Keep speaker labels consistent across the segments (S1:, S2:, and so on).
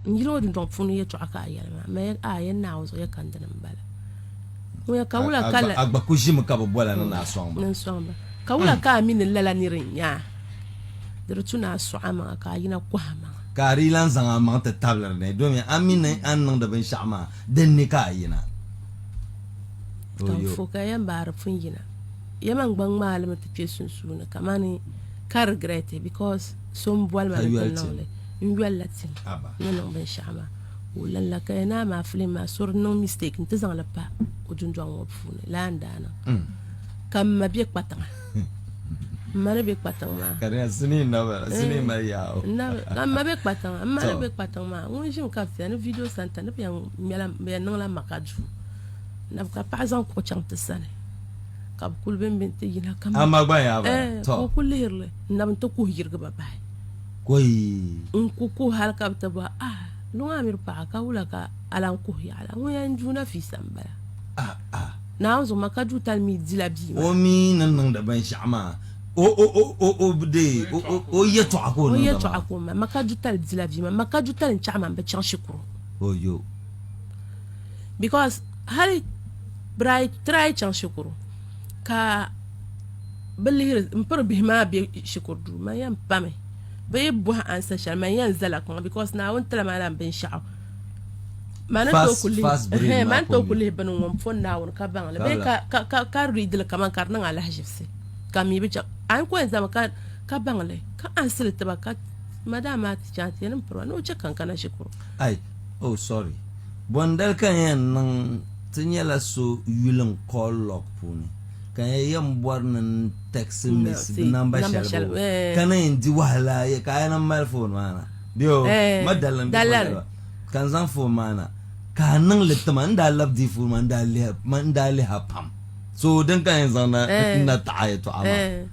S1: N yil ŋɔ dundɔŋ puuni yɛtɔɣa ka a yɛli maa, Mɛɛr A, yɛn Naa o zuɣu yɛ kandini m-bala. Ŋuya ka wula ka la... A gba ku ʒimi ka bi
S2: bɔla ni naa sɔŋ ba. Ni n-sɔŋ ba.
S1: Ka wula ka a mi ni lala nir n-nya a? Di di tu ni a sɔɣ amaŋa ka a yina kɔh amaŋa. Ka a di lan zaŋ
S2: amaŋ ti tabili ni, domin a mi ni a ni niŋdi binshɛɣu maa, din ni ka a yina. Ka
S1: n fo ka yɛn baari pun yina. Yɛma n-gba ŋmaai li mi ti kpe sunsuuni kamani ka rigrɛti, bikɔs. So n boli ma ni ti niŋ li n yoli la tim ni niŋ binshaɣu maa ka o lan la ka ya naa maa filim maa sori niŋ mistake n ti zaŋ li pa o dundɔŋ ŋɔ puuni laa n daa niŋ mm. ka m ma be kpatiŋa m ma ni be kpatiŋ
S2: maa ka eh, m ma be
S1: kpatiŋa m ma ni be kpatiŋ maa ŋun ʒimi ka bia ni video santa ni bɛ yɛn niŋla maka duu ka paɣa zaŋ kuɣu chaŋ ti sani ka bi kuli bembe n-ti yina ka mi. Ama gba yaa bala.
S2: Tɔ. Ka o ku lihiri li,
S1: n na bi ti kuhi yirigi ba bahi. Kɔyi.
S2: N ku kuhi hali
S1: ka bi ti bɔhi, Ah, luŋ a miri paɣa, ka wula ka a lan kuhi yaɣili a? Ŋun yɛn n Juu Nafiisa m-bala. Ah, ah. Naawuni zuɣu ma ka Juu tali mi di la bia maa. O mi ni niŋdi
S2: binshɛɣu maa, o, o, o, o, o bi dee, o, o, o yɛtɔɣa ka o niŋdi maa. O yɛtɔɣa ka o mali. Ma
S1: ka Juu tali di la bia maa. Ma ka Juu tali n-chaɣi ma m bi chaŋ shikuru. Oyo. because hali bira try chaŋ shikuru ka bi lihiri n piri bihi maa bɛ shikuru duu man yɛn pami bi yi bɔhi ansa shɛli man yɛn zala kpaŋa because naawuni tila maa lan binshaɣu man ni tooi ku lihi Fast- fast brain ehe, man maa tooi ku ku lihi bini ŋɔ n pɔn naawuni ka baŋli bee Kabla. ka ka ka ka readili kaman ka di niŋ alahiʒibisi ka mi bi chaŋ a ni ku yɛn zami ka ka baŋli ka ansili tiba ka madam maa ti chaŋ ti yɛn ni n piriba ni o chɛ ka n kana shikuru Ai Oh
S2: sorry. Bɔndali ka n yɛn niŋ ti nyɛla so yuli n call log puuni ka n yɛn bɔri ni n text miss bi number shɛli bo ka ni yɛn di wahala ya ka a yɛn mali phone maa na bɛ o ma dalim bɛ bɔndali ba ka n zaŋ phone maa na ka a niŋ li tima n daa lab di phone maa n daa liha pam so din ka n yɛn zaŋ na taɣi yɛtɔɣa maa.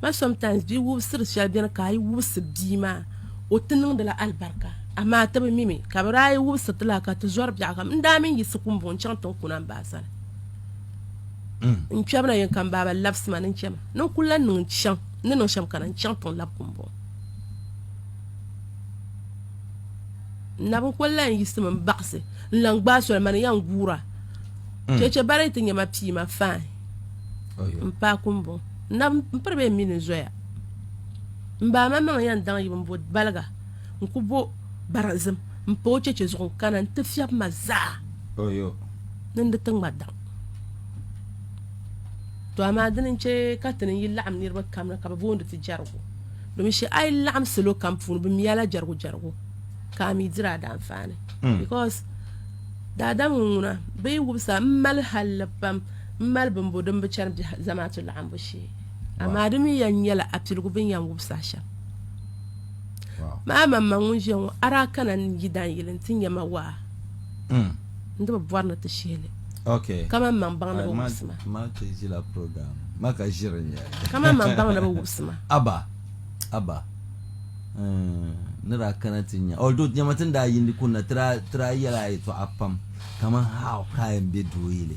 S1: But sometimes bi wubisiri shɛli bɛni ka a yi wubisi bia maa o ti niŋdila alibarika amaa ti bi mi mi ka bi daa yi wubisiriti la ka ti zɔri biɛɣu kam n daa mini yiɣisi kumbo n chaŋ tinkuna m ba a sani n kpɛbu na yɛn ka m baaba labisi ma ni n chɛma ni n kuli lan niŋ chaŋ n ni niŋ shɛm kana n chaŋ tiŋ lab kumbo n nab n kuli lan yiɣisimi n baɣasi n lan gbaai soli mani yan guura chɛchɛ bari ti nyɛ ma pii ma faan n paai kumbo Nab n piri bɛ mini zoya. M ba man maŋ yan daŋ yibu m-bo baliga n-ku bo barinzim m-pa o cheche zuɣu n-kana n-ti fiɛbi ma zaa
S2: ni n di ti ŋma
S1: daŋ. To amaa dini n-che ka ti ni yi laɣim niriba kam ni ka bɛ booni ti jɛrigu. Domin shɛ a yi laɣim salo kam puuni bɛ mi a la jɛrigu jɛrigu ka a mi diri a daanfaani. Because daadam ŋun ŋuna bɛ yi wubisa m mali halli pam. M mali bimbu din bi chani biɛhi zamaatu laɣimbu shee, amaa di mi yɛn nyɛla apiligu bɛ ni yɛn wub saha shɛm maa. Man man ŋun ʒiya ŋɔ, a daa kana n yi dan yili nti nya ma waa mm. n di bi bɔri ni ti shihi li okay. kaman
S2: maŋ baŋ ni bi
S1: wubisi ma. Ma ti ʒila
S2: program ma ka ʒiri n yɛli. Kaman maŋ baŋ ni bi
S1: wubisi ma. Aba,
S2: aba. Mm, ni daa kana ti nya. Although nyɛma ti ni daa yindi kunna ti daa yɛla yɛtɔɣa pam kaman how ka a yɛn be doo yili.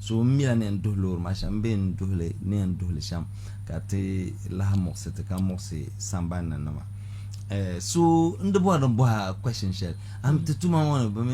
S2: So m mi a ni yɛn duhi loori maa shɛm m bee n duhi li ni yɛn duhi li shɛm ka ti lahi muɣisi ti ka muɣisi samban ni nima. So n di bɔri ni bɔhi a question shɛli, am ti tuma ŋɔ ni bɛ mi